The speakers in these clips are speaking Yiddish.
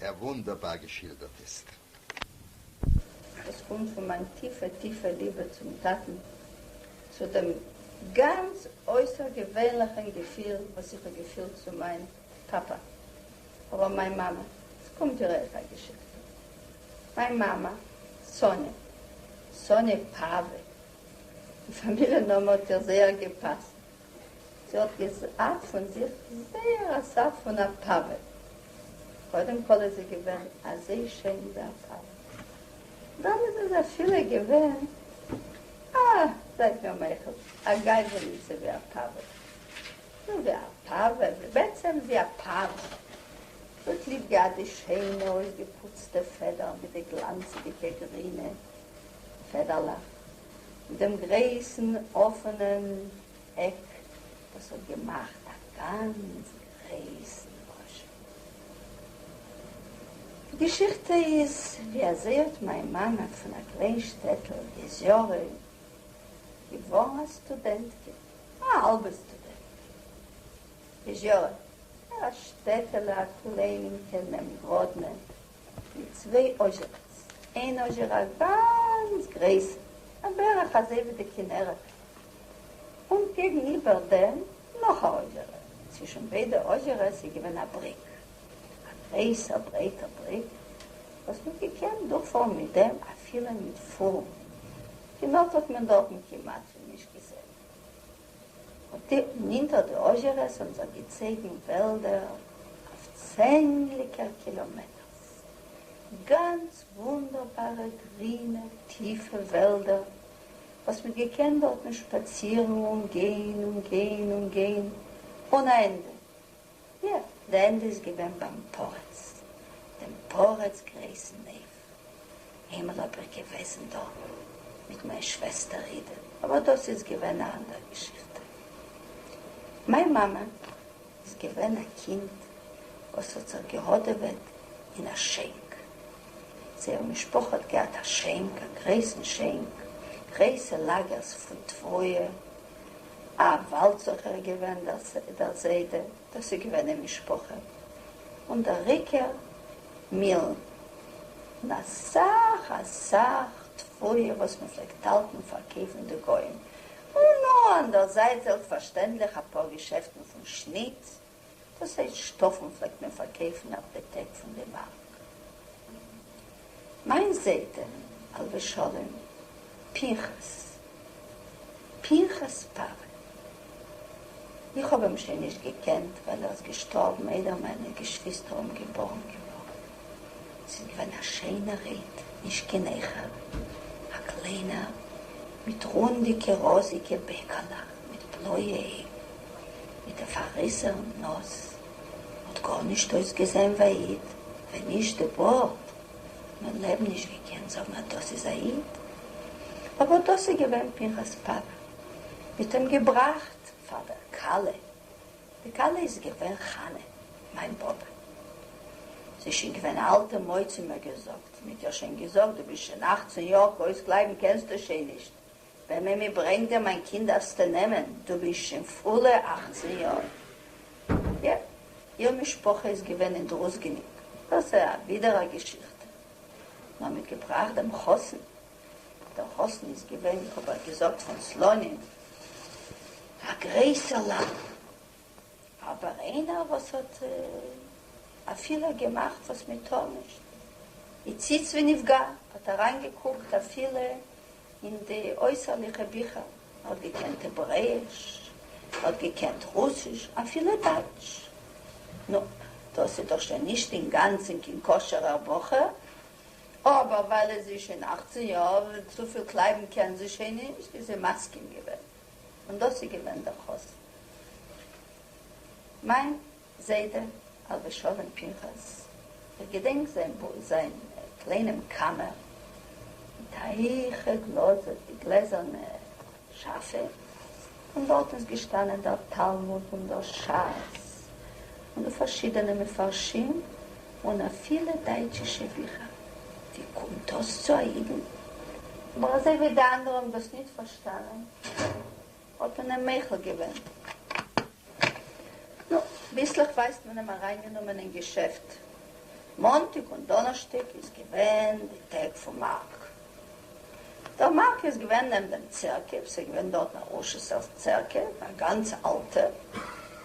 ער וואונדערבאר געשילדערט איז. עס קומט פון מיין טיפע טיפע ליבע צום טאטן, צו דעם גאנץ אויסערגעווענליכען געפיל וואס איך האב געפילט צו מיין פאפא, אבער מיין מאמע, עס קומט דירעקט א געשיכטע, מיין מאמע סאניע, סאניע פאווע, די פאמיליע נאמען האט איר זייער געפאסט, זי האט געזעהט פון זיך זייער א סארט פון א פאווער, קודם כל איז זי געווען אזוי שיין ווי א פאווער, דאן איז איז אפילו געווען א, זייט מיר מוחל, א גיידעניצע ווי א פאווער, נו ווי א פאווער, בעצם ווי א פאווער, זי האט ליב געהאט די שיינע אויסגעפוצטע פעדער מיט די גלאנצעדיגע גרינע פעדערלעך, דעם גרויסן אפענעם עק וואס האט געמאכט א גאנץ גרויסן רושם. די געשיכטע איז ווי אזוי האט מיין מאמע פון א קליין שטעטל יעזיורא געווארן א סטודענטקע, א האלבע סטודענטקע. יעזיורא, א שטעטעלע א קליינינקע נעבן גראדנע. מיט צוויי אזשערעס, איין אזשערע א גאנץ גרייסע, א בערך אזוי ווי די כנרת, און קעגן איבער דעם נאך א אזשערע, צווישן ביידע אזשערעס איז געווען א בריק, א גרייסע ברייטע בריק וואס מ'האט געקענט דורכפארן מיט דעם אפילו מיט פארן, כנרת האט מען דארטן כמעט ווי נישט געזען. נינטער די אָזשערעס האָבן זיך געצײגן װעלדער אױף צענדליקער קילאָמעטערס, גאַנץ װוּנדערבאַרע גרינע טיפֿע װעלדער, װאָס מע האָט געקענט דאָרטן שפּאַצירן און גײן און גײן און גײן אָן אַ ענדע, יא, די ענדע איז געווען ביים פרץ, דעם פרץ גרעיסן עוו. הימל האב איך געוועזן דארטן מיט מיין שוועסטער אידע, אבער דאס איז געווען א אנדער געשיכטע. מיין מאמע איז געווען א קינד וואס האט זיך געהאדעוועט אין א שענק. זייער משפחה האט געהאט א שענק, א גרעיסן שענק, גרעיסע לאגערס פון תבואה, א וואלדסוכער געווען דער זיידע, דאס איז געווען די משפחה, און דער עיקר מילן, און אסאך אסאך תפלה וואס מען פלעגט האלטן פארקויפן די גוים, און נאר אנדערזייט זעלבסטפארשטענדליך אפאר געשעפטן פון שניט, דאס הייסט שטאפן פלעגט מען פארקויפן אויף די טעג פון די מארק. מיין זיידע עליו השלום פנחס פנחס פארע, איך האב אים שוין נישט געקענט ווייל ער איז געשטארבן איידער מיינע געשוויסטער האבן געבארן געווארן, ס'איז געווען א שיינער איד, נישט קיין עכער, א קליינער מיט רונדיגע ראזיגע בעקעלעך מיט בלויע אויגן, מיט א פארריסענעם נאז, האט גארנישט אויסגעזען ווי א איד, ווען נישט די בארד, נאר לעבן נישט געקענט זאגן אז דאס איז א איד, אבער דאס איז געווען פנחס פאפא, מיט אים געבראכט פאר דער כלה, די כלה איז געווען חנה, מיין באבע, זי איז שוין געווען אלטע מויד, זי האט מיר געזאגט, מיט איר שוין געזאגט, דו ביסט שוין אכצען יאר, קרויס קלייבן קענסטו שוין נישט, וועמען מען ברענגט דער מיין קינד דארפסטו נעמען, דו ביסט שוין פולע אכצן יאר. יע, איר משפחה איז געווען אין דרוזגעניק, דאס איז אבידער א געשיכטע. מ'האט מיט געבראכט דעם חתן, דער חתן איז געווען, איך האב אייך געזאגט פון סלאנים, א גרעסער לאך. אבער איינער וואס האט א פילער געמאכט וואס מען טאר נישט, הציץ ונפגע, האט אריין געקוקט אפילו אין די אויסערליכע ביכער, ער האט געקענט העברעאיש, ער האט געקענט רוסיש, אפילו דייטש, נו, דאס איז דאך שוין נישט אינגאנצען קיין כשר'ער בחור, אבער ווייל עס איז שוין אכצען יאר, צופיל קלייבן קען זי שוין נישט, איז זי מסכים געווען. און דאס איז געווען דער חזן. מיין זיידע א ר' שלום פנחס, איך געדענק זיין קליינעם קאמער, מיט א הייכע גלאז אויף די גלעזערנע שאפע, און דארט איז געשטאנען דער תלמוד און דער שס, און די פארשידענע מפרשים און אפילו דייטשישע ביכער. ווי קומט דאס צו א אידן? אבער אזוי ווי די אנדערע האבן דאס ניט פארשטאנען, האט מען אים מוחל געווען. נו, ביסלעך ווייסט מען אים אריינגענומען אין געשעפט. מאנטאג און דאנערשטאג איז געווען די טעג פון מארק. דער מארק איז געווען נעבן דעם צערקעוו, ס'איז געווען דארטן א ראשעסערס צערקעוו, א גאנץ אלטע,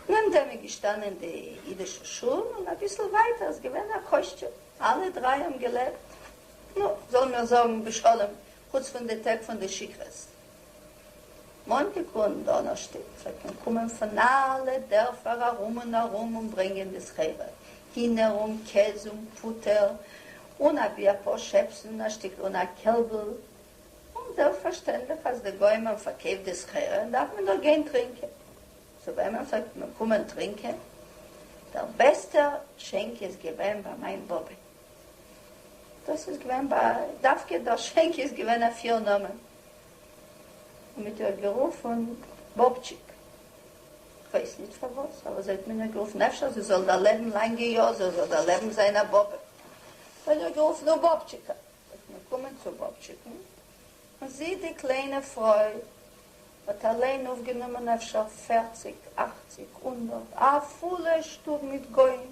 נעבן דעם איז געשטאנען די אידישע שול, און אביסל ווייטער איז געווען א קוישטשער, אלע דריי האבן געלעבט, נו, זאלן מיר זאגן, בשלום, חוץ פון די טעג פון די שיכרות. מאנטאג און דאנערשטאג זאל מען קומען פון אלע דערפער ארום און ארום און ברענגען די סחורה, הינער און קעז און פוטער, און אבי אפאר שעפסן און א שטיקל און א קעלבל, און זעלבסטפארשטענדליך אז די גוים האבן פארקויפט די סחורה דארף מען דאך גיין טרינקען, צו וועמען זאלט מען קומען טרינקען? דער בעסטער שענק איז געווען ביי מיין באבע, דאס איז געווען ביי דווקא דער שענק איז געווען א פיר נאמען און מיט איר גערופען באבטשיק כ'ווייס ניט פארוואס אבער זיי האט מען איר גערופען אפשר זי זאל דערלעבען לאנגע יאר זי זאל דערלעבען זיין א באבע זיי האבן איר גערופען און באבטשיקע איז מען געקומען צו באבטשיקען און זי די קליינע פרוי האט אליין אויפגענומען אפשר פערציג אכציג הונדערט א פולע שטוב מיט גוים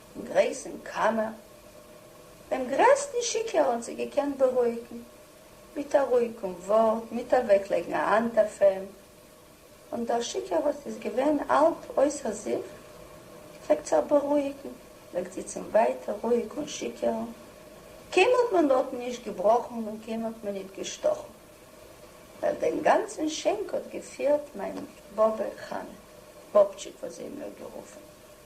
אין גרעסן קאמער, דעם גרעסטן שיקער האָט זי געקענט באַרויִקן, מיט אַ רויִקן וואָרט, מיט אַוועקלייגן אַ האַנט אויף אים, און דער שיקער האָט, איז געווען האַלב אויסער זיך, געפֿלעגט זיך באַרויִקן, געפֿלעגט זיצן ווײַטער רואיק און שיקערן, קיין האָט מען דאָרטן נישט געבראָכן און קיין האָט מען ניט געשטאָכן, ווײַל דעם גאַנצן שענק האָט געפֿירט מײַן באָבע חנה, באָבטשיק האָט זי אים נאָר גערופֿן.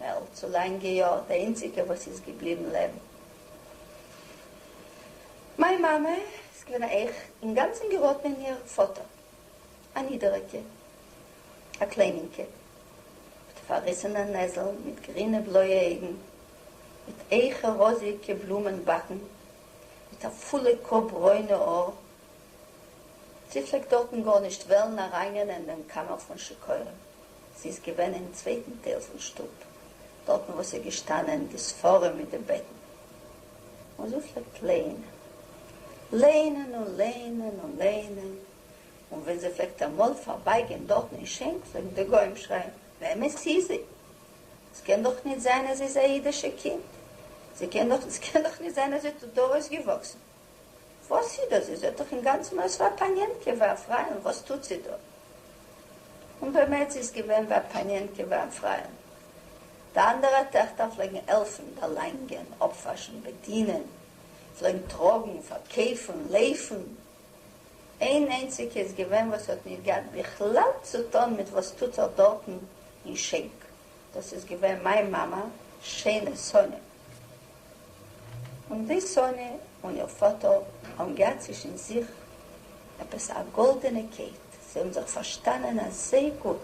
מעלד צו לאנגע יאר די איינציגע וואס איז געבליבן לעבן. מיין מאמע איז געווען א איך אינגאנצן געראטן אין איר פאטער א נידעריגע א קליינינקע מיט פארריסענע נעזל מיט גרינע בלויע אויגן מיט אייכע ראזיגע בלומען באקן מיט א פולע קאפ ברוינע האר זי פלעגט דארטן גארנישט וועלן ארייננענען דעם קאמער פון שיכורים. זי איז געווען אין צווייטן טייל פון שטוב, דארטן וואו ס'איז געשטאנען די ספרים מיט די בעטן, און זי האט פלעגט ליינען, ליינען און ליינען און ליינען, און ווען זי פלעגט אמאל פארבייגיין דארטן אין שענק פלעגן די גוים שרייען, וועמענס איז זי? ס'קען דאך ניט זיין אז זי איז א אידישע קינד, ס'קען דאך ניט זיין אז זי האט דא אויסגעוואקסן. וואס איז דאס? זי זעט דאך אינגאנצן אויס ווי א פאניענקע, ווי א פרייען, וואס טוט זי דא? און באמת, זי איז געווען ווי א פאניענקע, ווי א פרייען. די אנדערע טעכטער פלעגן העלפן, דערלאנגען, אפוואשן, בעדינען, פלעגן טראגן, פארקויפן, לויפן. איין איינציגע איז געווען וואס האט נישט געהאט בכלל צו טון מיט וואס טוט זיך דארטן אין שענק, דאס איז געווען מיין מאמע, שיינע סאניא. און ווי סאָנע און איר פֿאָטער האָבן געהאַט צווישן זיך עפּעס אַ גאָלדענע קייט, זיי האָבן זיך פֿאַרשטאַנען אַזוי גוט,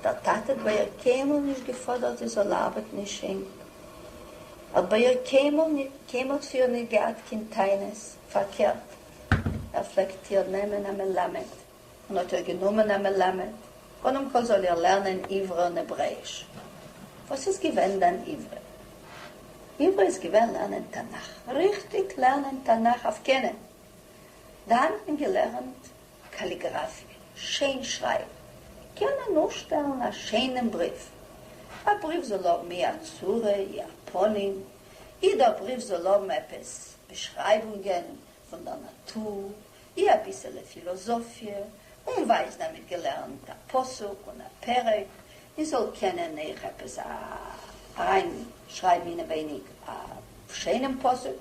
דער טאַטע האָט בײַ איר קיין מאָל נישט געפֿאָדערט זי זאָל אַרבעטן אין שענק, האָט בײַ איר קיין מאָל ניט, קיין מאָל צו איר ניט געהאַט קיין טענות, פֿאַרקערט, ער פֿלעגט איר נעמען אַ מלמד. און האט איר גענומען א מלמד, קודם כל זאל איר לערנען עברא און העברעאיש. וואס איז געווען דאן עברא? עברא איז געווען לערנען תנך, ריכטיג לערנען תנך אויף קענען. דאן האט מען געלערנט קאליגראפיע, שיין שרייבן, קענען אויסשטעלן א שיינעם בריוו, א בריוו זאל האבן אי א צורה אי א פנים, אי דער בריוו זאל האבן עפעס באשרייבונגען פון דער נאטור, ווי אביסעלע פילאזאפיע, און ווייז דערמיט געלערנט א פסוק און א פרק, מען זאל קענען אייך עפעס אריין שרייבן אינעווייניג א שיינעם פסוק,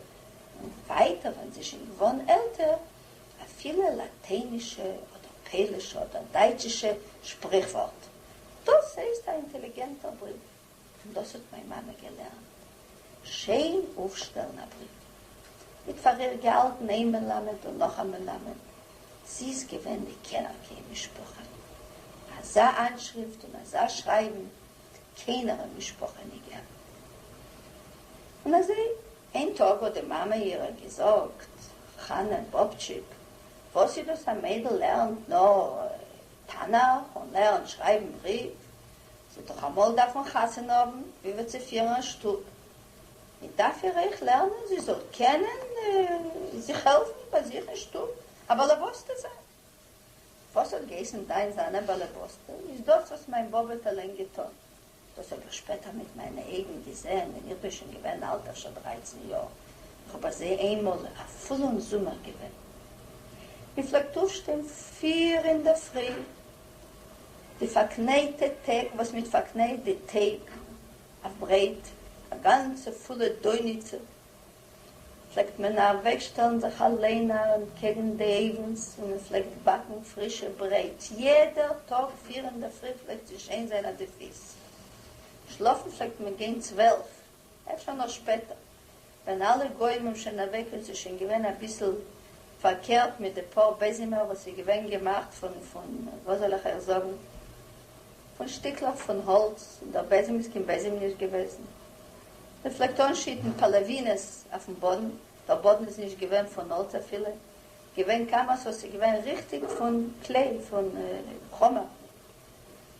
און ווייטער ווען זי שוין געווארן עלטער, אפילו לאטיינישע אדער פעלישע אדער דייטשישע שפריכווארט. דאס הייסט א אינטעליגענטער בריוו. פון דאס האט מיין מאמע געלערנט שיין אויפשטעלן א ברית. זי האט פאר איר געהאלטן איין מלמד און נאך א מלמד. זי איז געווען מקנא קיין משפחה. אזא איינשריפט און אזא שרייבן האט קיינער אין משפחה נישט געהאט. און אזוי איין טאג האט די מאמע אירער געזאגט, חנה באבטשיק, וואס איז דאס א מיידל לערנט נאר תנך און לערנט שרייבן ברית? ס'וועט דאך אמאל דארפן חתונה האבן וויבאלד צו פירן א שטוב, מען דארף איר אויך לערנען זי זאל קענען זיך העלפן ביי זיך אין שטוב, א באלעבאסטע זיין. וואס האט געהייסן דיין זיין א באלעבאסטע, איז דאס וואס מיין באבע האט אליין געטון, דאס האב איך שפעטער מיט מיינע אייגן געזען ווען איך בין שוין געווען אלט אפשר דרייצן יאר, איך האב ביי זיי איינמאל א פולן זומער געווען, מען פלעגט אויפשטיין פיר אינדערפרי די פארקנייטע טעג וואס מיט פארקנייט די טעג אויף ברייט, א גאנצע פולע דויניצע, פלעגט מען אוועק שטעלן זיך אליין ארום קעגן די אויוונס און מען פלעגט באקן פרישע ברייט יעדע טאג פיר אינדערפרי פלעגט שוין זיין אט די פיס שלאפן פלעגט מען גיין צוועלף אפשר נאר שפעטער ווען אלע גוים האבן שוין אוועק און ס'איז שוין געווען אביסל פארקערט מיט די פאר בעזימער וואס איז געווען געמאכט פון פון וואס זאל איך אייך זאגן פון שטיקלעך פון האלץ און דער בעזים איז קיין בעזים נישט געוועזן מען פלעגט אנשיטן פאלעווינעס אויפן באדן דער באדן איז נישט געווען פון האלץ אפילו געווען קאמאס וואס איז געווען ריכטיג פון קלעי פון חומר.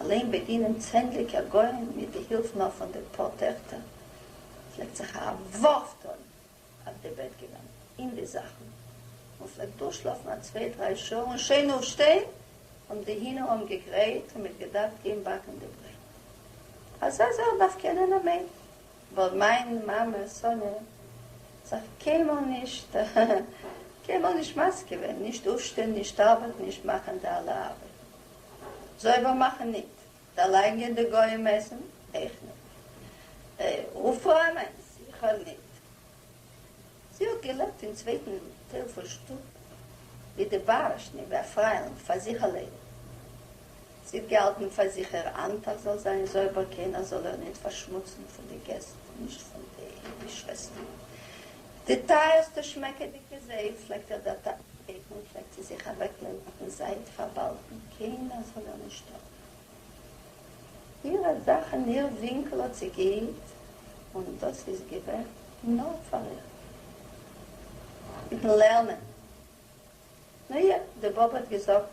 אליין באגינען צענדליגער גוים מיט די הילף נאר פון די פאר טעכטער פלעגט זיך א ווארף טון אויף די בעט געווען אין די זאכן און פלעגט דורכשלאפן א צוויי דריי שעה און שיין אויפשטיין און די הינער האבן געגרייט און מ'האט געדארפט גיין באקן די ברייט אזא זאך דארף קענען א מענטש ווייל מיין מאמע סאניא האט זיך קיינמאל נישט קיינמאל נישט מזיק געווען נישט אויפשטיין נישט ארבעטן נישט מאכן די אלע ארבעטן. זויבער מאכן ניט. דערלייגען די גויים עסן איך ניט. ר' פרעה מיינס איך הער ניט. זי האט געלעבט אין צווייטן טייל פון שטוב ווי די בארעשט ניט ווי א פריילינג פאר זיך אליין. זי האט געהאלטן פאר זיך איר אנטייל זאל זיין זויבער קיינער זאל איר ניט פארשמוצן פון די געסט נישט פון די שוועסטער די טייערסטע שמעקעדיגע זייף פלעגט ער דערטייטן, פלעגט זי זיך אוועקלייגן אויפן זייט פארבאלטן, קיינער זאל איר נישט טראגן, אירע זאכן, איר ווינקל האט זי געהיט, און דאס איז געווען נאר פאר איר. מיטן לערנען, נו יא, די באבע האט געזאגט,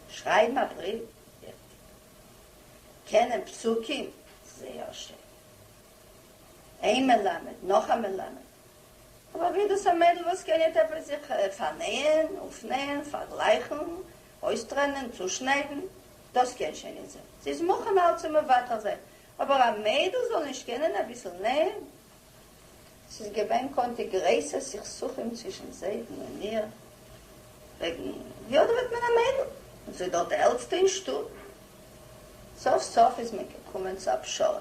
שרייבן א בריוו, וויכטיג, קענען פסוקים, זייער שיין, איין מלמד, נאך א מלמד. אבער ווי איז דאס א מיידל וואס קען יעדע פאר זיך פארנעהן, אויפנעהן, פארגלייכן, אויסטרענען, צושניידן? דאס קען שוין נישט זיין. זי איז מוכן אלץ צו מוותר זיין. אבער א מיידל זאל נישט קענען אביסל נעהן? ס'איז געווען קונצי גרויסע סכסוכים צווישן זיידן און מיר וועגן ווי אדעוועט מען א מיידל, און זי דארט די עלטסטע אין שטוב. סוף סוף איז מען געקומען צו א פשרה.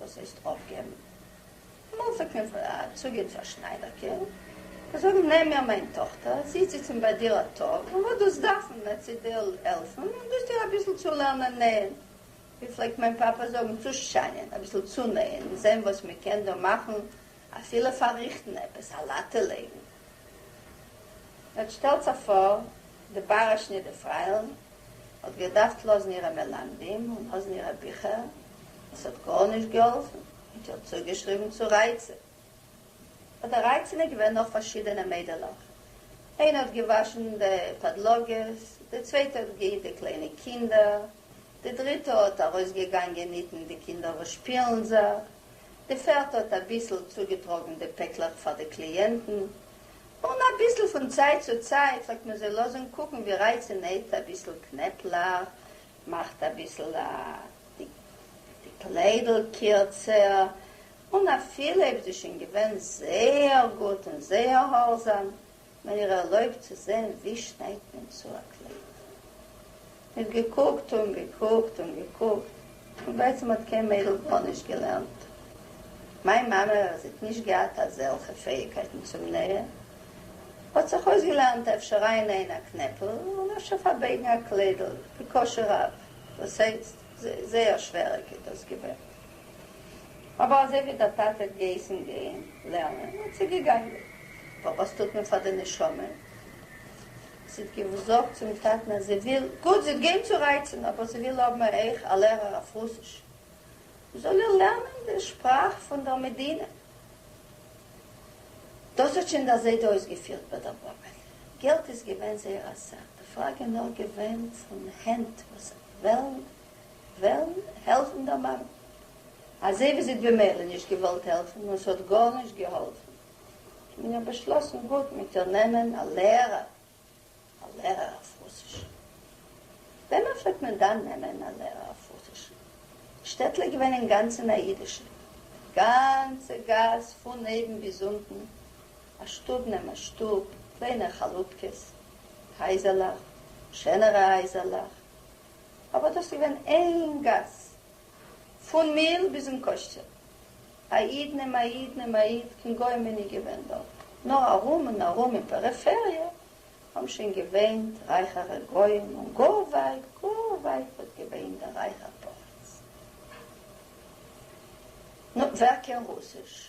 וואס הייסט אויפגעבן? אמאל זאגט מען פאר א צוגעב צו א שניידערקער, זיי זאגן נעם מיר מיין טאכטער, זי איז זיצן ביי דיר א טאג, און וואס דאס דארפן וועט זי דיר העלפן, און דאס דיר אביסל צולערנען נעהן, ווי פלעגט מיין פאפא זאגן, צושיינען, אביסל צונעהן, און זעהן וואס מען קען דא מאכן, אפילו פארריכטן עפעס, א לאטע לייגן. יעצט שטעלטס אייך פאר, די באראש נידערפרייל האט געדארפט לאזן אירע מלמדים און לאזן אירע ביכער, עס האט גארנישט געהאלפן, האט איר צוגעשריבן צו רייצען. ביי די רייצען איז געווען נאך פארשידענע מיידלעך, איינע האט געוואשן די פאדלאגעס, די צווייטע האט געהיט די קליינע קינדער, די דריטע האט ארויסגעגאנגען היטן די קינדער וואס שפילן זיך, די פערטע האט אביסל צוגעטראגן די פעקלעך פאר די קליענטן, און אביסל פון צייט צו צייט פלעגט מען זיי לאזן קוקן ווי ר' איצע נעט אביסל קנעפלעך, מאכט אביסל די די קליידל קירצער, און אפילו אויב זי שוין געווען זייער גוט און זייער האלזאם, מען איר ערלויבט צו זען ווי שניידט מען צו א קלייד. און געקוקט און געקוקט און געקוקט, און בעצם האט קיין מיידל גארנישט געלערנט. מיין מאמע, וואס האט נישט געהאט אזעלכע פעאיגקייטן צום נער, האט זיך אויסגעלערנט אפשר ארייננעען א קנעפל און אפשר פארבייגן א קליידל, בקושי רב, דאס הייסט, זייער שווערעג איז דאס געווען. אבער אזוי ווי דער טאטע האט געהייסן גיין לערנען, האט זי געגאנגען. אבער וואס טוט מען פאר די נשמה? זי האט געזאגט צום טאטן אז זי וויל, גוט, זי האט געהענגט צו רייצן, אבער זי וויל האבן א איך, א לערער אויף רוסיש, וואס זאל איר לערנען די שפראך פון דער מדינה. דאס האט שוין דער זיידע אויסגעפירט ביי דער באבע. געלט איז געווען זייער א סאך, די פראגע איז נאר געווען פון הענט וואס וועלן העלפן דער מאמע, אזוי ווי זי האט במילא נישט געוואלט העלפן און ס'האט גארנישט געהאלפן. און האב באשלאסן גוט מיט איר נעמען א לערער, א לערער אויף רוסיש. וועמען פלעגט מען דאן נעמען א לערער אויף רוסיש? די שטעטל איז געווען אינגאנצן א אידישע, די גאנצע גאס פון אויבן ביז אונטן, א שטוב נעבן א שטוב, קליינער חלופקעס, הייזערלעך, שענערע הייזערלעך, אבער דאס איז געווען איין גאס, פון מיל ביזן קושטשער. א איד נעם א איד נעם א איד, קיין גוים איני געווען דארט, נאר ארום און ארום אין פעריפעריע האבן שוין געוואינט רייכערע גוים און גאר ווייט גאר ווייט וואלט געווען דער רייכער פרדס. נו, ווער קען רוסיש?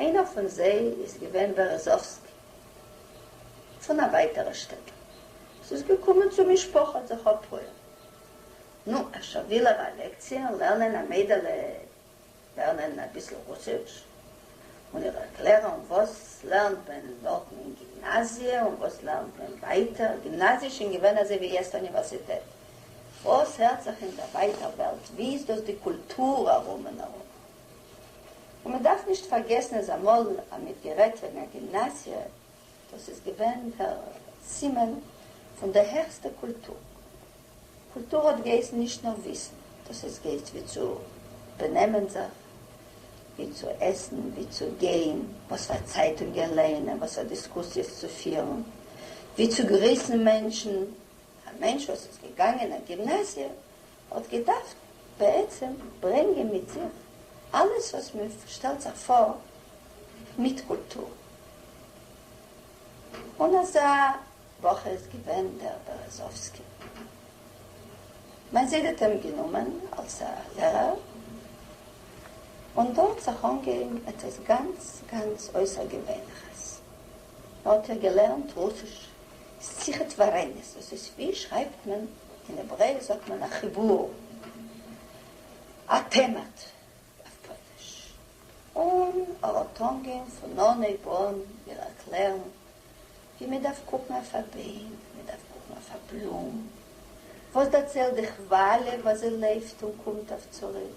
איינער פון זיי איז געווען בערעזאווסקי פון א ווייטערע שטעטל, עס איז געקומען צו משפחה האט זיך אפרויען, נו אפשר וויל ער א לעקציע לערנען א מיידעלע לערנען אביסל רוסיש און איר ערקלערען וואס לערנט מען דארטן אין גימנאזיע און וואס לערנט מען ווייטער, גימנאזיע איז שוין געווען אזוי ווי יעצט אוניווערסיטעט, וואס הערט זיך אין דער ווייטער וועלט, ווי איז דאס די קולטור ארום און ארום, און מען דארף נישט פארגעסן אז אמאל האט מען גערעדט וועגן א גימנאזיע, דאס איז געווען דער סימן פון די העכסטע קולטור, קולטור האט געהייסן נישט נאר וויסן, דאס איז געהייסט ווי צו בענעמען זיך, ווי צו עסן, ווי צו גיין, וואס פאר צייטונגען לייענען, וואס פאר דיסקוסיעס צו פירן, ווי צו גריסן מענטשן, א מענטש וואס איז געגאנגען א גימנאזיע האט געדארפט בעצם ברענגען מיט זיך אלעס וואס מען שטעלט זיך פאר מיט קולטור, און אזא בחור איז געווען דער בערעזאווסקי. מיין זיידע האט אים גענומען אלס א לערער, און דא האט זיך אנגעהויבן עפעס גאנץ גאנץ אויסערגעווענליכעס, מען האט איר געלערנט רוסיש, שיחת ורעין'ס, דאס איז ווי שרייבט מען אין העברעיש זאגט מען א חיבור, א טעמעט אויף פויליש, און עראטונגען פון אן אויבאן מיר ערקלערן ווי מען דארף קוקן אויף א ביין, ווי מען דארף קוקן אויף א בלום, וואס דערציילט די כוואליע וואס זי לויפט און קומט אויף צוריק,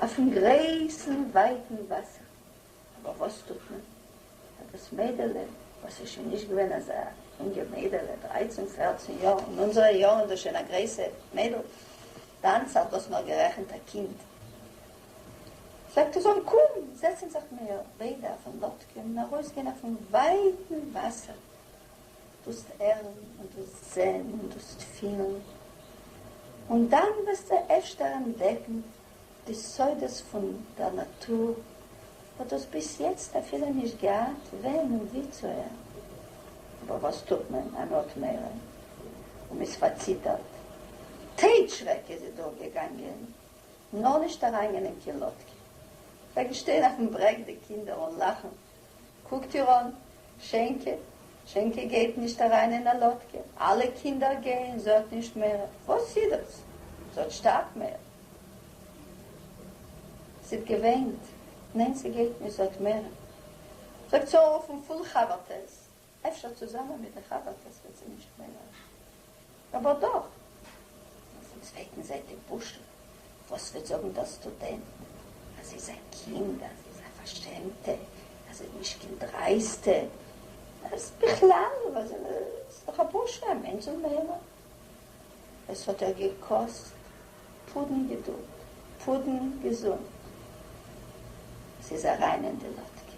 אויפן גרויסן ווייטן וואסער. אבער וואס טוט מען אז דאס מיידעלע, וואס איז שוין נישט געווען אזא אינגע מיידעלע, דרייצן פערצן יאר, און אונזערע יארן דאס שוין א גרויסע מיידל, דאנס האט דאס נאר גערעכנט א קינד, זאגט ער זאל קום, זעצן זיך מיר ביידע אויפן לאטקע און ארויסגיין אויפן ווייטן וואסער, דאסט הערן און דאסט זען און דאסט פילן, און דאן וועסטו אפשר אנטדעקן די סודות פון דער נאטור וואס דו האסט ביז יעצט אפילו נישט געהאט ווען און ווי צו הערן. אבער וואס טוט מען? מען האט מורא און מען איז פארציטערט. טייטש שרעק איז זי דורכגעגאנגען, נאר נישט אריינגענען קיין לאטקע. זיי געשטיין אויפן ברעג די קינדער און לאכן קוקט איר אן, שענקע, שענקע גייט נישט אריין אין א לאדקע, אלע קינדער גייען, זי האט נישט מער, וואס אידאס? זי האט שטארק מער, זי האט געוויינט, ניין ס'גייט נישט, זי האט מער, זאגט זי אויפן פול חבר'טעס, אפשר צוזאמען מיט די חברטעס וועט זי נישט מער אויף אבער דאך אויפן צווייטן זייט די בושה וואס וועט זאגן דער סטודענט אז זי איז א קינד אז זי איז א פארשעמטע אז זי איז נישט קיין דרייסטע אז בכלל וואס איז דאך א בושה א מענטש זאל מערער עס האָט איר געקאָסט פּודן געדולד, פּודן געזונט. זי איז אַרײַן אין די לאָדקע.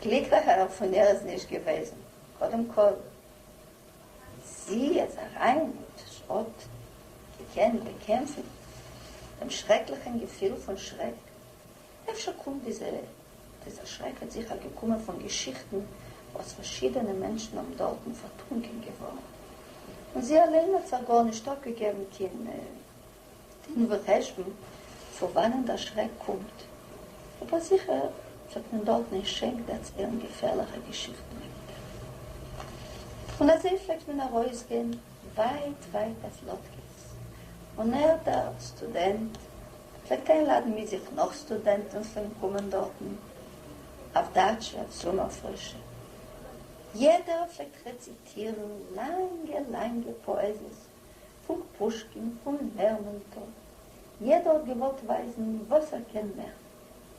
גליקלעכער פֿון איר איז נישט געװעזן, קודם-כּל, זי איז אַרײַן און זי האָט געקענט באַקעמפֿן דעם שרעקלעכן געפֿיל פֿון שרעק, אפשר קומט דיזע דיזע שרעק האט זיכער געקומען פון געשיכטן וואס פארשידענע מענטשן האבן דארטן פארטרונקען געווארן, און זי אליין האט זיך גארנישט אפגעגעבן קיין דין וחשבון פון וואנען דער שרעק קומט, אבער זיכער וועט מען דארטן אין שענק דערציילן געפערליכע געשיכטן וועגן דעם. און אזוי פלעגט מען ארויסגיין ווייט ווייט אויף לאטקעס, און ער דער סטודענט, פלעגט איינלאדן מיט זיך נאך סטודענטן פון קומען דארטן אויף דאטשע אויף זומער פרישע. יעדער פלעגט רעציטירן לאנגע לאנגע פאעזיעס פון פושקין, פון לערמאנטוב, יעדער האט געוואלט ווייזן וואס ער קען מער,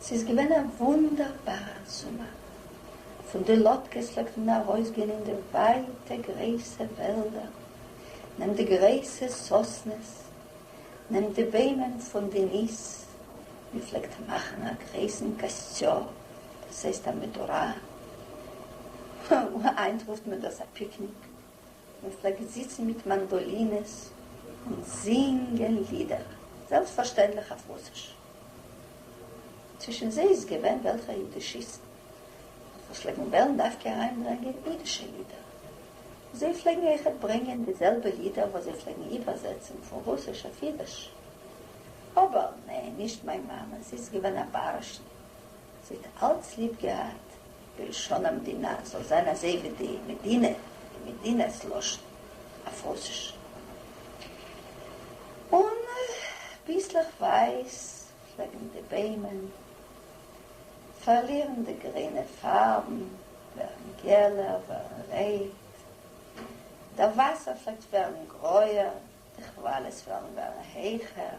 ס'איז געווען א וואונדערבארער זומער. פון די לאטקעס פלעגט מען ארויסגיין אין די ווייטע גרויסע וועלדער, נעם די גרויסע סאסנעס, נעם די ביימען פון די ניס, מען פלעגט מאכן א גרויסן קאסטשאו, דאס הייסט א מדורה, היינט רופט מען דאס א פיקניק. און פלעגט זיצן מיט מאנדאלינעס און זינגען לידער, זעלבסטפארשטענדליך אויף רוסיש. צווישן זיי איז געווען וועלכע אידישיסטן וואס פלעגן וועלן דווקא אריינברענגען אידישע לידער. זיי פלעגן אויכעט ברענגען די זעלבע לידער וואס זיי פלעגן איבערזעצן פון רוסיש אויף אידיש. אבער ניין, נישט מיין מאמע, זי איז געווען א בארעש'ן, זי האט אלץ ליב געהאט בלשון המדינה זאל זיין אזוי ווי די מדינה, די מדינת לשון אויף רוסיש. און ביסלעך ווייס פלעגן די ביימען פארלירן די גרינע פארבן, ווערן געלער, ווערן רעיט, דער וואסער פלעגט ווערן גרויער, די כוואליס וועלן ווערן העכער.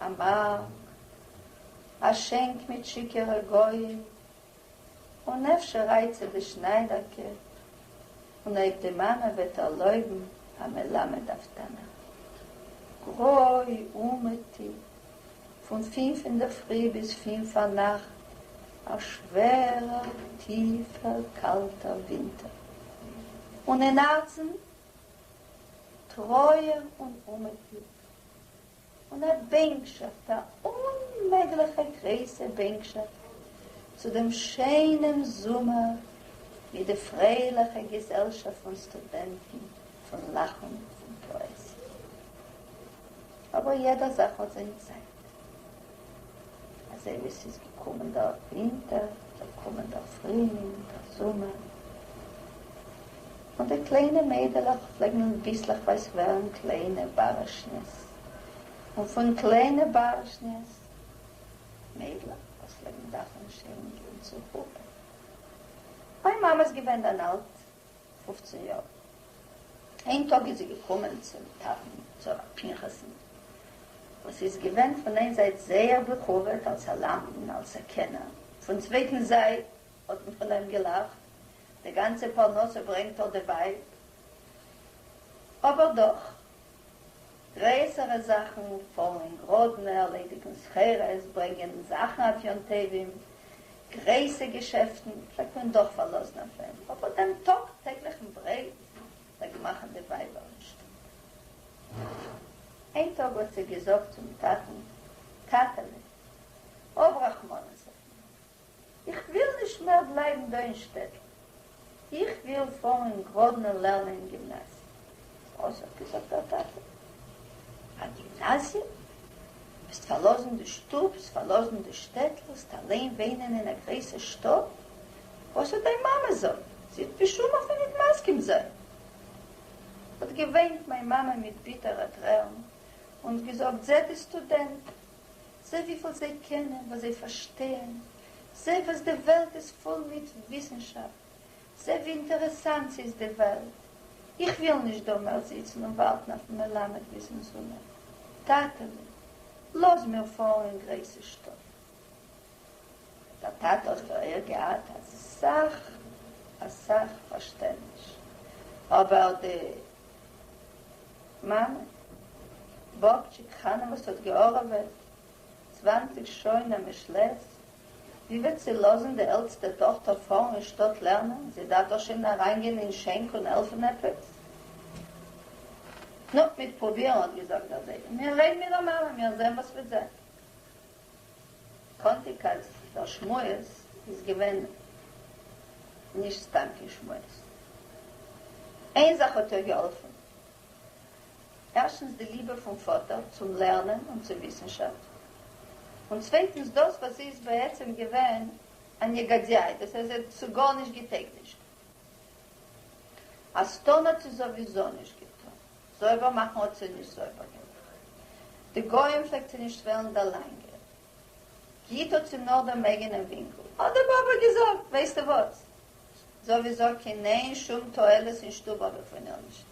א מארק, א שענק מיט שיכור'ע גוים, און אפשר רייצט זיך די שניידערקע, און אויב די מאמע וועט ערלויבן, א מלמד אויף תנך. גרוי אומעטי, פון פֿינף אינדערפרי ביז פֿינף פארנאכט, א שווערער, טיפער, קאלטער ווינטער. און אין הארצן, טרויער און אומעטי. און א בענקשאפט, א אוממעגליכע גרויסע בענקשאפט צו דעם שיינעם זומער מיט די פרייליכע געזעלשאפט פון סטודענטן, פון לאכן און פאעזיע. אבער יעדע זאך האט זיין צייט. אזוי ווי עס איז געקומען דארט ווינטער, זאל קומען דא פרילינג, דער זומער. און די קליינע מיידלעך פלעגן ביסלעכווייז ווערן קליינע בארעשניעס, און פון קליינע בארעשניעס, מיידלעך וואס פלעגן דארפן שערן גיין צו חופה. מיין מאמע איז געווען דאן אלט פופצן יאר. איין טאג איז זי געקומען צום טאטן, צו הרב פנחס'ן, וואס איז געווען פון איין זייט זייער בכבוד אלס א למדן, אלס א קענער, פון צווייטן זייט האט מען פון איהם געלאכט, די גאנצע פרנסה ברענגט ער די ווייב, אבער דאך גרעסערע זאכן פאלן גראדן, ערלעדיגן סחורות, ברענגען זאכן אויף יום טובים, גרויסע געשעפטן פלעגט מען דאך פארלאזן אויף דעם, אבער דעם טאג טעגליכן ברעט פלעגן מאכן די ווייבער אין שטוב. איין טאג האט זי געזאגט צום טאטן, טאטעלע, האב רחמנות אויף מיר, איך וויל נישט מער בלייבן דא אין שטעטל, איך וויל פארן אין גראדנע לערנען אין גימנאזיע. וואס? האט געזאגט דער טאטע, א גימנאזיע? וועסט פארלאזן די שטובס, פארלאזן די שטעטל, וועסט אליין וואינען אין א גרויסע שטאט? וואס האט דיין מאמע זאגט? זי וועט בשום אופן ניט מסכים זיין! האט געוויינט מיין מאמע מיט ביטערע טרערן און געזאגט, זעט די סטודענטן, זע וויפיל זיי קענען, וואס זיי פארשטייען, זע וואס די וועלט איז פול מיט וויסנשאפט, זע ווי אינטערעסאנט ס'איז די וועלט. איך וויל נישט דא מער זיצן און ווארטן אויפן מלמד ביזן זומער. טאטע'לע, לאז מיר פארן אין גרעיסע שטאט. דער טאטע האט פאריאר געהאט אסאך אסאך פארשטענדניש, אבער די מאמע, באבטשיק חנה וואס האט געהארעוועט צוואַנציק שנה מיש לעז, ווי וועט זי לאזן די עלטסטע טאכטער פארן אין שטאט לערנען, זי דארף דאך שוין אריינגיין אין שענק און העלפן עפעס? נו, מיט פרובירן האט געזאגט דער זיידע, מיר רעדן מיט דער מאמע, מיר זעהן וואס וועט זיין. קאנטיג אז דער שמועס איז געווען נישט סתם קיין שמועס. איין זאך האט איר געהאלפן, ערשטנס די ליבע פון פאטער צום לערנען און צו וויסנשאפט, און צווייטנס דאס וואס זי איז בעצם געווען א נגדיי, דאס הייסט זי האט צו גארנישט געטעגנישט. א סטאנאט איז סאוויזאו נישט געטון. זויבער מאכן האט זי נישט זויבער געמאכט די גוים פלעגט זי נישט וועלן דער לאנגע גיט האט זי נאר דעם אייגענעם ווינקל האט די באבע געזאגט ווייסטע וואס סאוויסאו קינען שום תועלת אין שטוב האב איך פון איר נישט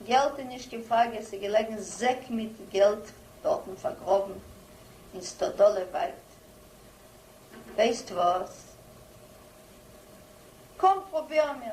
געלט איז נישט קיין פראגע עס איז געלעגן זעק מיט געלט דארטן פארגראבן אין סטאדאלע ווייט ווייסט וואס קום פרובירן מיר.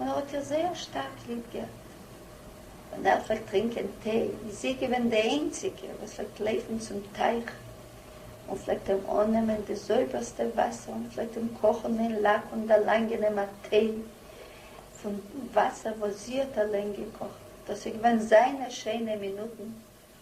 און ער האט איר זייער שטארק ליב געהאט, ווען ער פלעגט טרינקען טיי איז זי געווען די איינציגע וואס פלעגט לויפן צום טייך און פלעגט אים אננעמען די זויבערסטע וואסער און פלעגט אים קאכן אין לאק און דערלאנגען אים א טיי פון וואסער וואס זי האט אליין געקאכט, דאס איז געווען זיינע שיינע מינוטן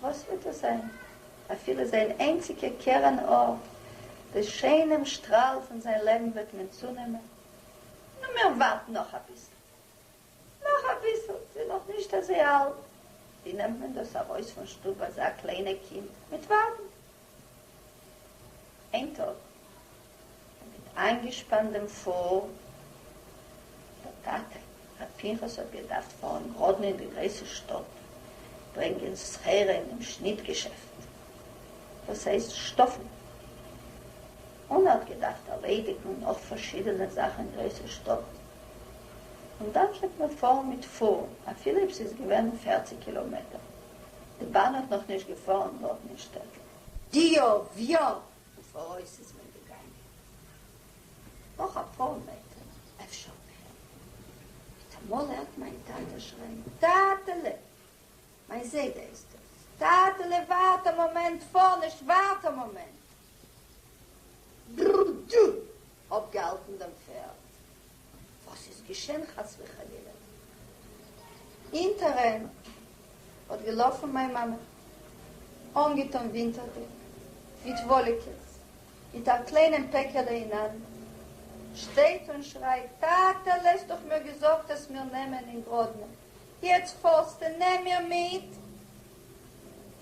וואס וועט דאס זיין? אפילו זיין איינציגע קרן אור, די שיינעם שטראל פון זיין לעבן וועט מען צונעמען? נו מיר ווארטן נאך אביסל. נאך אביסל, זי איז נאך נישט אזוי אלט. ווי נעמט מען דאס ארויס פון שטוב אזא קליינע קינד? מיט ווארטן. איין טאג האט גאט איינגעשפאנט דעם פרעה, דער טאטע, ר' פנחס האט געדארפט פארן גראדן אין די גרויסע שטאט ברענגען סחורה אין דעם שניט געשעפט, דאס הייסט שטאפן, און ער האט געדארפט ערלעדיגן נאך פארשידענע זאכן אין גרויסע שטאט, און דאן קען מען פארן מיט פרעה אפילו אויב ס'איז געווען פֿערציק קילאמעטער. די באן האט נאך נישט געפארן דארט אין שטעטל. די יאר וויאזוי פאראויס איז מען געגאנגען? נאך אפאר מעטער, אפשר מער. מיטאמאל הערט מיין טאטע שרייען, טאטעלע! מיין זיידע איז דאס. טאטעלע ווארט א מאמענט, פאר נישט, ווארט א מאמענט! בררררררררר! אפגעהאלטן דעם פערד. וואס איז געשען חס וחלילה? אינטערען האט געלאפן מיין מאמע, אנגעטון ווינטערדיג, מיט וואליקעס, מיט א קליינעם פעקעלע אין האנט, שטייט און שרייט, טאטעלע האסט דאך מיר געזאגט עס מיר נעמען אין גראדנע, יעצט פארסטע נעם מיר מיט?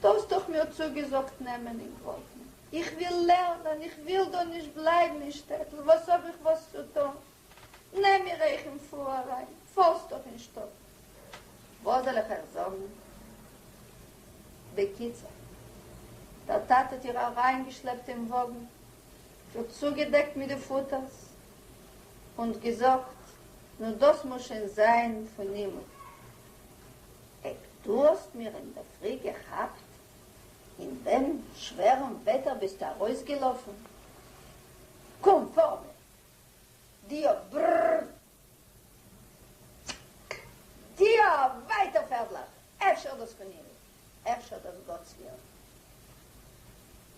דו האסט דאך מיר צוגעזאגט נעמען און קויפן. איך וויל לערנען, איך וויל דא נישט בלייבן אין שטעטל, וואס האב איך וואס צו טון? נעם מיר אייך און פאר אריין, פארסט דאך אין שטאט. וואס זאל איך אייך זאגן? בקיצור, דער טאטע האט איר אריינגעשלעפט אין וואגן, איר צוגעדעקט מיט די פוטערס, אונד געזאגט, נו דאס מוז שוין זיין פון הימל. עק, דו האסט מיר אינדערפרי געכאפט אין דעם שווערן וועטער ביסטו ארויסגעלאפן? קום פאר מיר! דיו, ברררר! צק! דיו! ווייטער פערדלעך! אפשר דאס כנראה? אפשר דאס גאטס וויל?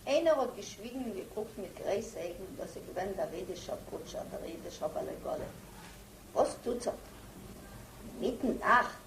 איינער האט געשוויגן און געקוקט מיט גרייס אויגן, דאס איז געווען דער אידישער בוטשער, דער אידישער בעל עגלה. וואס טוט זיך דא אינמיטן נאכט?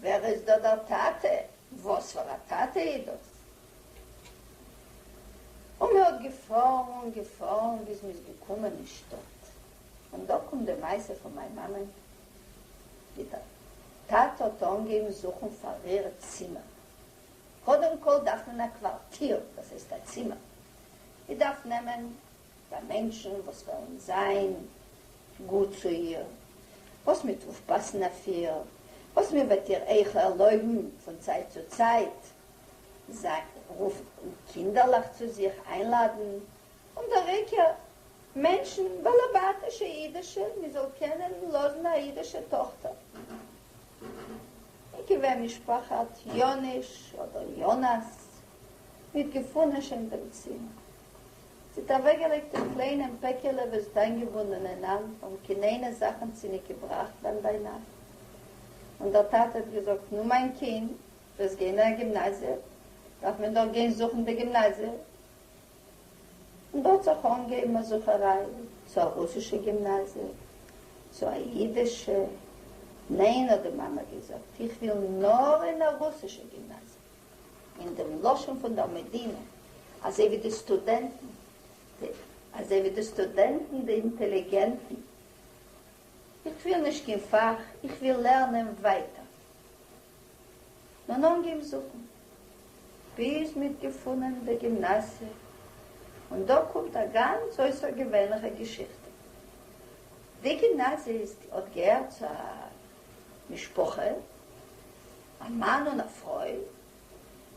ווער איז דא דער טאטע? וואס פאר א טאטע איז דאס? און מען האט געפארן געפארן ביז מען איז געקומען אין שטאט, און דא קומט די מעשה פון מיין מאמען, ווי דער טאטע האט אנגעהויבן זוכן פאר איר צימער, קודם כל דארף מען א קווארטיר, דאס הייסט א צימער, מען דארף נעמען ביי מענטשן וואס וועלן זיין גוט צו איר, וואס מ'וועט אויפפאסן אויף איר, וואס מ'וועט איר אויך ערלויבן פון צייט צו צייט זיין רופן קינדערלעך צו זיך איינלאדן, און דער עיקר, מענטשן וועלן בעטן ש אידישע מ'זאל קענען לאזן א אידישע טאכטער אין כבין משפחת יאנוש אדער יאנאס, מ'האט געפונען שוין דעם צימער. זי האָט אַװעקגעלײגט אין קלײנעם פּעקעלע, װאָס די אײַנגעבונדענע נאַנט האָבן קינענע זאַכן צוניקעבראַכט בײַם בײנאַכט, און דער טאַטע האָט געזאָגט, נו, מײַן קינד, דו װעסט גײן אין אַ גימנאַזיע, דאַרף מען דאָך גײן זוכן די גימנאַזיע. און דאָ האָט זיך אָנגעהױבן אַ זוכערײַ, צו אַ רוסישע גימנאַזיע, צו אַ ייִדישע. נײן, האָט די מאַמע געזאָגט, איך װיל נאָר אין אַ רוסישע גימנאַזיע. אין דעם לשון פון דער מדינה, אזוי ווי די סטודענטן, די, אזוי ווי די סטודענטן, די אינטעליגענטן, איך וויל נישט קיין פאך, איך וויל לערנען ווייטער. נאר אנגעהויבן זוכן, ביז מ'האט געפונען די גימנאסיע, און דא קומט א גאנץ אויסערגעווענליכע געשיכטע. די גימנאזיע איז, האט געהערט צו א משפחה, א מאן און א פרוי,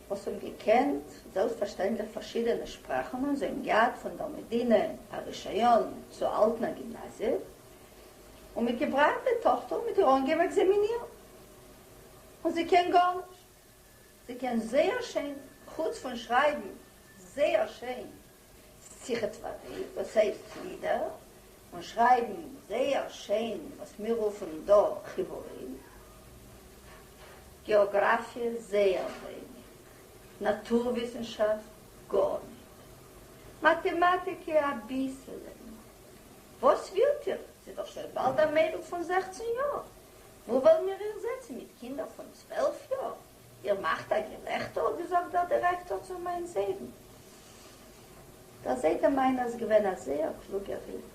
וואס האבן געקענט זעלבסטפארשטענדליך פארשידענע שפראכן און זיי האבן געהאט פון דער מדינה א רישיון צו האלטן א גימנאזיע, און מיט געבראכט די טאכטער און מיט איר אנגעהויבן עקזעמינירן. און זי קען גארנישט. זי קען זייער שיין, חוץ פון שרייבן זייער שיין. שיחת וררי וואס הייסט לידער און שרייבן זייער שיין וואס מיר רופן דא חיבורים. געאגראפיע זייער ווייניג, נאטור וויסנשאפט גארניט, מאטעמאטיקע אביסעלע נאר. וואס ווילט איר? ס'איז דאך שוין באלד א מיידל פון זעכצן יאר, וואו וועלן מיר איר זעצן מיט קינדער פון צוועלף יאר? איר מאַכט אַ געלעכטער, האָט געזאָגט דער דירעקטאָר צו מײַן זיידן. דער זיידע מײַנער איז געווען אַ זייער קלוגער ייִד.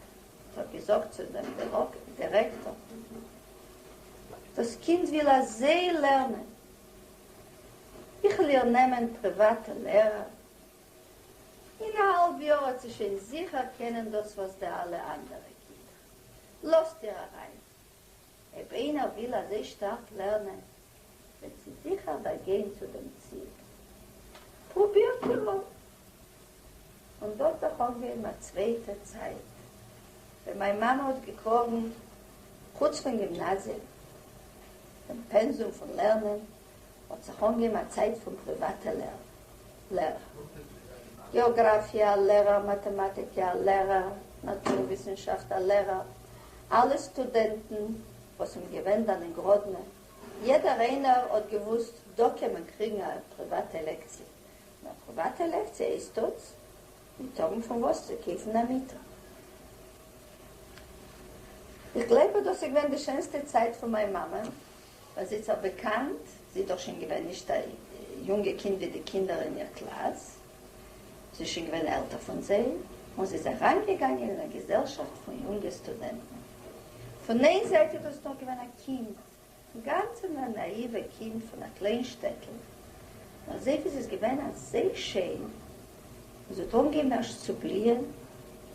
ער האָט געזאָגט צו דעם דירעקטאָר, דאָס קינד וויל אַזוי לערנען, איך וועל איר נעמען פּריוואַטע לערער, אין אַ האַלב יאָר וועט זי שוין זיכער קענען דאָס וואָס די אַלע אַנדערע קינדער. לאָזט איר אַרײַן, אויב איינער וויל אזוי שטארק לערנען וועט זי זיכער באגיין צו דעם ציל. פרובירט איר אויס און דאס וועט דאך אנגעבן א צווייטע צייט. ווען מיין מאמע האט געקראגן חוץ פון גימנאזיע דעם פענזום פון לערנען האט זיך אנגעהויבן א צייט פון פריוואטע לערער, געאגראפיע א לערער, מאטעמאטיק א לערער, נאטור וויסענשאפט א לערער, אלע סטודענטן וואס האבן געווען דאן אין גראדנע, יעדער איינער האט געוואוסט דא קען מען קריגן א פריוואטע לעקציע, און א פריוואטע לעקציע הייסט טאגס מיט טאגן פון וואס צו קויפן א מיטה. איך גלייב אז דאס איז געווען די שענסטע צייט פון מיין מאמע, באזיצער באקאנט, זי איז דאך שוין געווען נישט א יונגע קינד ווי די קינדער אין איר קלאס, זי איז שוין געווען עלטער פון זיי, און זי איז אריינגעגאנגען אין א געזעלשאפט פון יונגע סטודענטן. פון איין זייט איז דאס נאך געווען א קינד, אינגאנצען א נאאיווע קינד פון א קליין שטעטל, נאר זעט ווי זי איז געווען אזוי שיין, און זי האט אנגעהויבן ערשט צו בליען,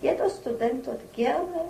יעדער סטודענט האט גערנער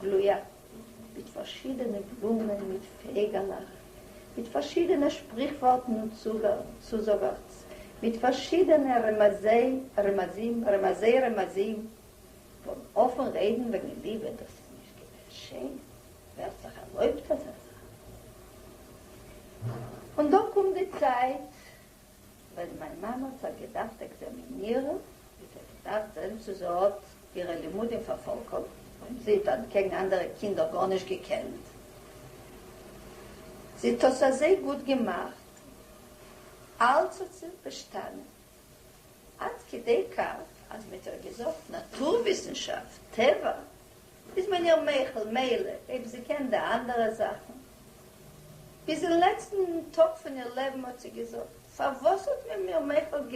גלויה, מיט פארשידענע בלומען, מיט פייגעלעך, מיט פארשידענע שפריכווארטן און צוזאגערטס, מיט פארשידענע רמזי רמזים, רמזי רמזים, פון אפן רעדן וועגן ליבע, דאס איז נישט געווען שיין, ווער האט זיך ערלויבט אזא זאך? און דא קומט די צייט ווען מיין מאמע האט זיך געדארפט עקזעמינירן איז זי געדארפט זען צו זי האט אירע לימודים פארפאלקאמט, און זי האט אנטקעגן אנדערע קינדער גארנישט געקענט, זי האט עס אזוי גוט געמאכט, אלץ האט זי באשטאנען, עד כדי כך אז מען האט איר געזאגט נאטור וויסנשאפט, טבע, איז מען איר מוחל, מילא, אויב זי קען די אנדערע זאכן. ביז אין לעצטן טאג פון איר לעבן האט זי געזאגט, פארוואס האט מען מיר מוחל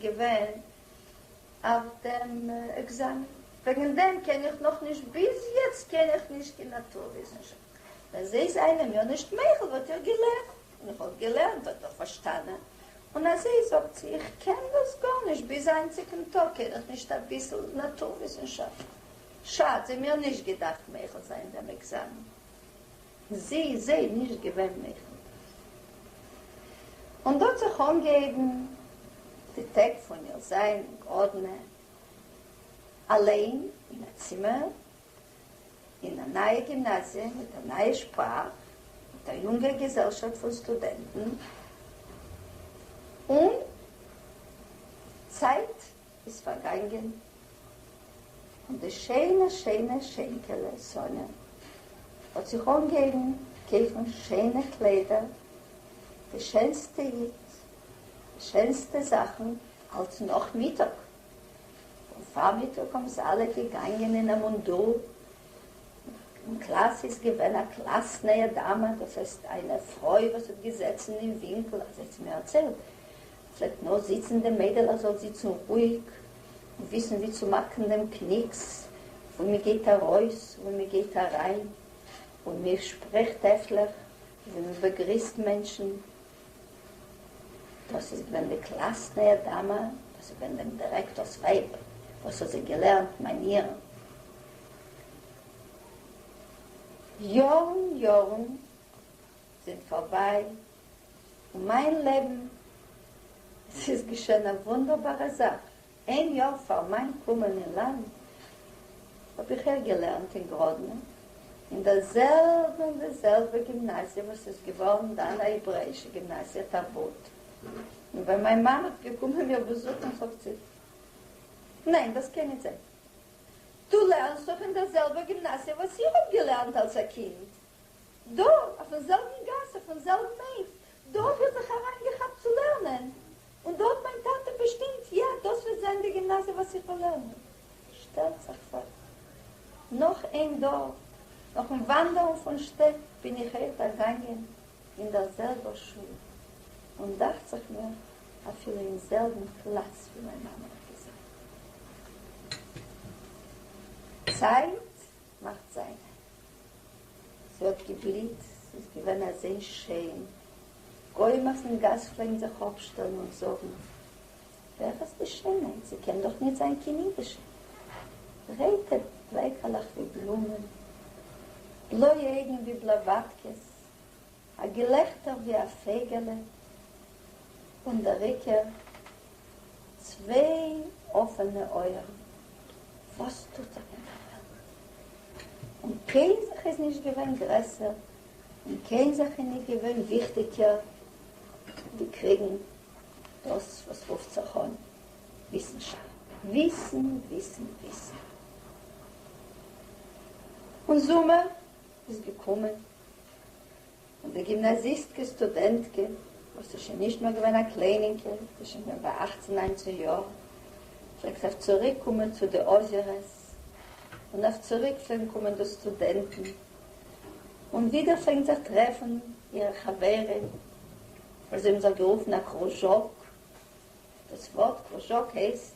געווען אויף דעם עקזאמען? וועגן דעם קען איך נאך נישט, ביז יעצט קען איך נישט קיין נאטור וויסנשאפט. ווען זיי זענען מיר נישט מוחל וואלט איך געלערנט, און איך וואלט געלערנט האט ער פארשטאנען. און אז זי זאגט צו איך קען דאס גארנישט, ביז היינטיגן טאג קען איך נישט אביסל נאטור וויסנשאפט. שאד זיי מיר נישט געדארפט מוחל זיין דעם עקזאמען. זי איז זיי נישט געווען מוחל. און דא האט זיך אנגעהויבן די טעג פון איר זיין אין גראדנע אליין אין א צימער אין א נייע גימנאזיע מיט א נייע שפראך מיט א יונגע געזעלשאפט פון סטודענטן און צייט איז פארגאנגען און די שיינע שיינע שענקעלע סאניא האט זיך אנגעהויבן קויפן שיינע קליידער, די שענסטע היט, די שענסטע זאכן, אלץ נאכמיטאג און פארמיטאג האבן זיי אלע געגאנגען אין א מונדור, אין קלאס איז געווען א קלאס נייע דאמע, דאס הייסט איינע פרוי וואס האט געזעצן אין ווינקל, אזוי האט זי מיר ערציילט, פלעגט נאר זיצן דעם מיידעל ער זאל זיצן רואיג און וויסן ווי צו מאכן דעם קניקס וואו מען גייט ארויס און וואו מען גייט אריין און מען שפרעכט העפליך און ווי מען באגריסט מענטשן, דאס איז געווען די קלאסנע'ע דאמע, דאס איז געווען דעם דירעקטאר'ס ווייב וואס האט זיי געלערנט מאניערן יארן יארן זענען פארביי און מיין לעבן, עס איז געשען א וואונדערבארע זאך, איין יאר פאר מיין קומען אין לאנד האב איך אויך געלערנט אין גראדנע אין דער זעלבע אין דער זעלבע גימנאזיע וואס איז געווארן דאן א העברעאישע גימנאזיע תרבות, און ווען מיין מאן האט געקומען מיר באזוכן זאגט זי, ניין דאס קען ניט זיין, דו לערנסט דאך אין דער זעלבער גימנאזיע וואס איך האב געלערנט אלס א קינד. דא, אויפן זעלבן גאס, אויפן זעלבן עק, דא האב איך זיך אריינגעכאפט צו לערנען, און דא האט מיין טאטע באשטימט, יא, דאס וועט זיין די גימנאזיע וואס איך וועל לערנען. שטעלט זיך פאר, נאך אין דארף, נאכן וואנדערן פון שטעט, בין איך אויך דערגאנגען אין דער זעלבער שול, און דאכט זיך מיר, אפילו אין זעלבן פלאץ, ווי מיין מאמע האט געזאגט. צייט מאכט זיין. ס'האט געבליצט, ס'איז געווען אזוי שיין. גוים אויפן גאס פלעגן זיך אפשטעלן און זאגן, ווער איז די שיינער? זי קען דאך ניט זיין קיין אידישע. ברייטע בעקעלעך ווי בלומען, בלויע אויגן ווי בלאוואטקעס, א געלעכטער ווי א פייגעלע און דער עיקר צוויי אפענע אויערן, וואס טוט זיך אין דער וועלט? און קיין זאך איז נישט געווען גרעסער און קיין זאך איז נישט געווען וויכטיגער ווי קריגן דאס וואס רופט זיך אן וויסנשאפט. וויסן, וויסן, וויסן. און זומער איז געקומען, און די גימנאזיסטקע סטודענטקע, וואס איז שוין נישט מער געווען א קליינינקע, זי איז שוין געווען ביי אכצן ניינצן יאר, פלעגט אויף צוריק קומען צו די אויזערעס, און אויף צוריק פלעגן קומען דאס סטודענטן, און ווידער פלעגן זיך טרעפן אירע חברים, וואס זיי האבן זיך גערופן א קרוזשאק, דאס ווארט קרוזשאק הייסט,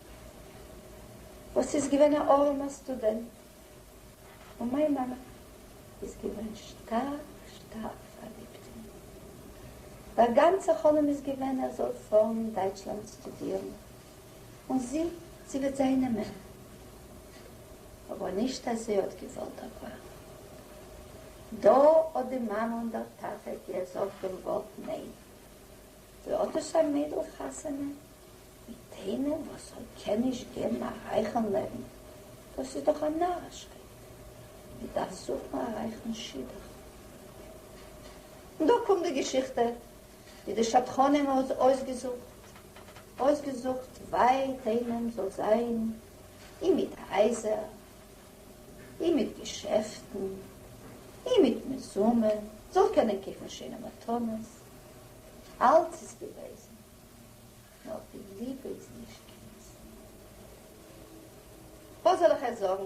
וואס איז געווען א ארעמע סטודענט, און מיין מאמע איז געווען שטארק שטארק פארליבט אין אים, דער גאנצע חלום איז געווען ער זאל פארן אין דייטשלאנד סטודירן, און זי זי וועט זיין אים מער, אבער נישט אז זי האט געוואלט ער פארט, דא האט די מאמע און דער טאטע געזאגט און גאט ניין, ווי אט דאס א מיידל חתונה מיט איינעם וואס זאל קען נישט געבן א רייכן לעבן, דאס איז דאך א נארישקייט, מען דארף זוכן א רייכן שידוך. און דא קומט די געשיכטע ווי די שדכנים האבן עס אויסגעזוכט, אויסגעזוכט ווייט איינעם זאל זיין, און מיט הייזער, און מיט געשעפטן, און מיט מזומן, זאל קענען קויפן שענע מתנות, אלץ איז געוועזן. נאר די ליבע איז נישט געניסט. וואס זאל איך עס זאגן?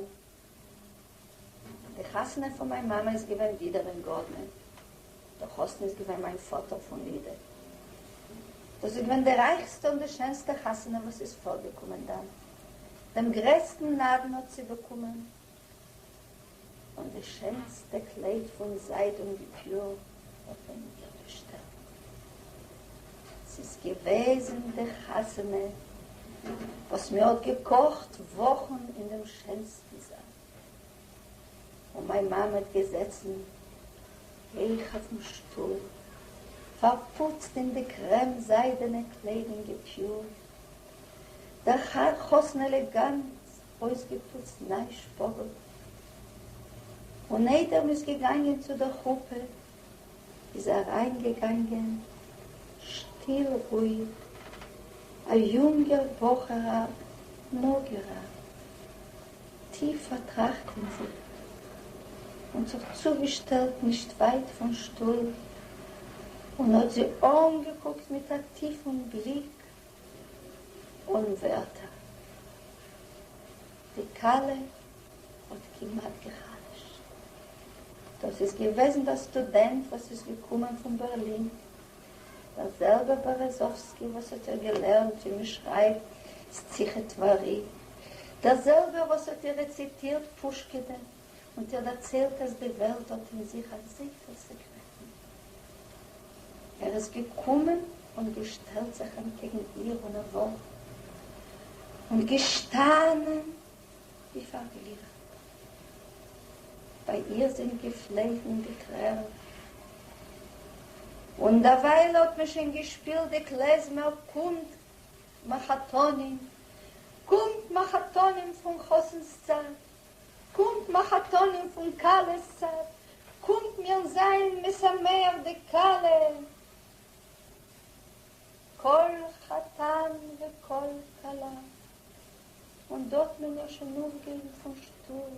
די חתונה פון מיין מאמע איז געווען ווידער אין גארדנע. דער חתן איז געווען מיין פאטער פון לידע. דאס איז געווען די רייכסטע און די שענסטע חתונה וואס איז פארגעקומען דאן. דעם גרעסטן נדן האט צובאקומען. און די שענסטע קלייד פון זייד און די פיור האט מען איר געשטעלט. ס'איז געוועזן די חתונה וואס מען האט געקאכט וואכן אין דעם שענסטן זאל, און מיין מאמע האט געזעצן הויך אויפן שטול, פארפוצט אין די קרעם זיידענע קלייד און געפיורט דער חתן עלעגאנט אויסגעפוצט ניי שפאגל און איידער מ'איז געגאנגען צו דער חופה איז אריין געגאנגען שטיל רואיג א יונגער בחור א מאגערע טיף פארטראכט אין זיך און זיך צוגעשטעלט נישט ווייט פון שטול און האט זי אנגעקוקט מיט א טיפן בליק. אָן ווערטער. די כלה האָט כּמעט געחלשט. דאָס איז געוועזן דער סטודענט, וואָס איז געקומען פֿון בערלין, דער זעלבער בערעזאָווסקי, וואָס האָט איר געלערנט, ווי מע שרײַבט, סציכע טבֿרי, דער זעלבער, וואָס האָט איר רעציטירט פּושקעדען, און ט'ער דערציילט אז די וועלט האט אין זיך אזויפיל סעקרעטן. ער איז געקומען און געשטעלט זיך אנטקעגן איר און ער וואלט און געשטאנען ווי פארבליכט. ביי איר זינט געפלעפן די טרערן און דערווייל האט מען שוין געשפילט די קלעזמער קומט מחתנים קומט מחתנים פון חתן'ס צד קומט מחותנים פון כלות צד, קומט מיר זיין משמח די כלה, כל חתן וכל כלה, און דא האט מען מיר שוין אויפגעריסן פון שטוב,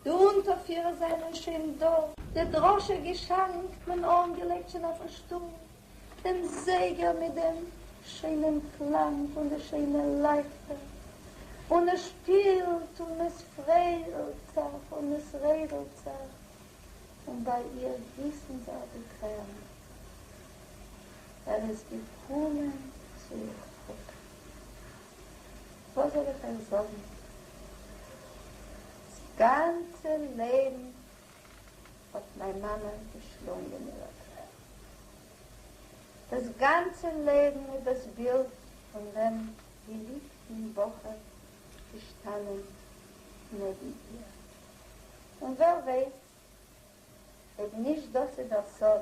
די אונטערפירער זענען שוין דא, די דרשה געשאנק, מען אנגעלייגט שוין אויפן שטוב, דעם זייגער מיט דעם שיינעם קלאנג פון די שיינע לייכטער, און עס שפילט און עס פריידלט זיך און עס רעדלט זיך, און ביי איר גיסן זיך די טרערן, ער איז געקומען צו איר פאטער. וואס זאל איך אייך זאגן? דאס גאנצע לעבן האט מיין מאמע געשלונגען איר א טרער. דאס גאנצע לעבן איז דאס בילד פון דעם געליבטן בחור געשטאנען נעבן איר. און ווער ווייסט אויב נישט דאס איז דער סוד.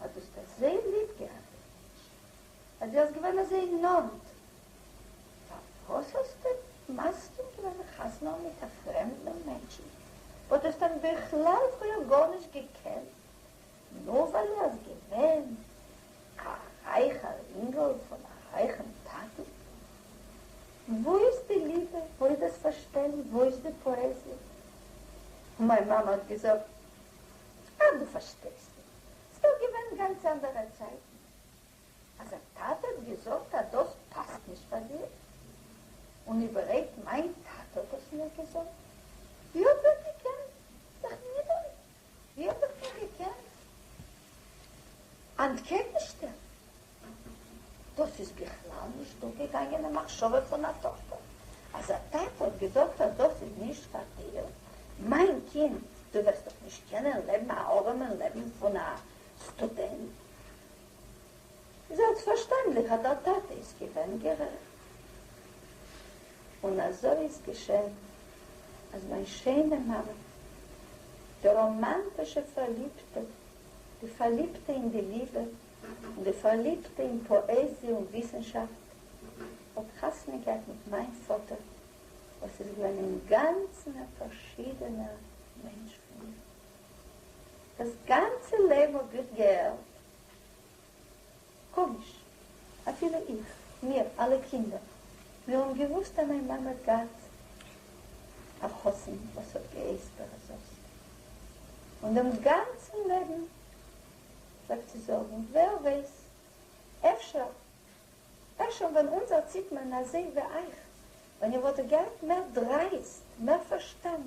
אז דו האסט עס זייער ליב געהאט דעם מענטשן, אז דו האסט געווען אזוי נאנט, פארוואס האסטו מסכים געווען זיך חתונה האבן מיט א פרעמדן מענטשן וואס דו האסט אים בכלל פריער גארנישט געקענט, נאר ווייל ער איז געווען א רייכער אינגל פון א רייכן טאטן? וואו איז די ליבע? וואו איז דאס פארשטיין? וואו איז די פאעזיע? און מיין מאמע האט געזאגט, אה, דו פארשטייסט נישט. ס'דאך געווען גאנץ אנדערע צייטן. אז א טאטע האט געזאגט אז דאס פאסט נישט פאר דיר, און איבערהויפט מיין טאטע האט דאס מיר געזאגט, ווי האט ער געקענט זיך נידערן, ווי האט ער מיר געקענט אנטקעגנשטעלן? דאס איז בכלל נישט דורכגעגאנגען אין מחשבה פון א טאכטער אז א טאטע האט געזאגט אז דאס איז נישט פאר דיר, מיין קינד, דו וועסט דאך נישט קענען לעבן א ארעמע לעבן פון א סטודענט. זעלבסטפארשטענדליך אז דער טאטע איז געווען גערעכט. און אזוי איז געשען אז מיין שיינע מאמע, די ראמאנטישע פארליבטע, די פארליבטע אין די ליבע, די פארליבטע אין פאעזיע און וויסנשאפט האט חתונה געהאט מיט מיין פאטער וואס איז געווען אינגאנצן א פארשידענער מענטש פון מיר. דאס גאנצע לעבן האב איך געהערט קאמיש, אפילו איך, מיר אלע קינדער, מיר האבן געוואוסט אז מיין מאמע האט געהאט א חתן וואס האט געהייסט בערעזובסקי און דעם גאנצן לעבן. פלעגט זי זאגן, ווער ווייס, אפשר, אפשר ווען אונז ערציט מען אזוי ווי אייך, ווען איר וואלט געהאט מער דרייסט, מער פארשטאנד,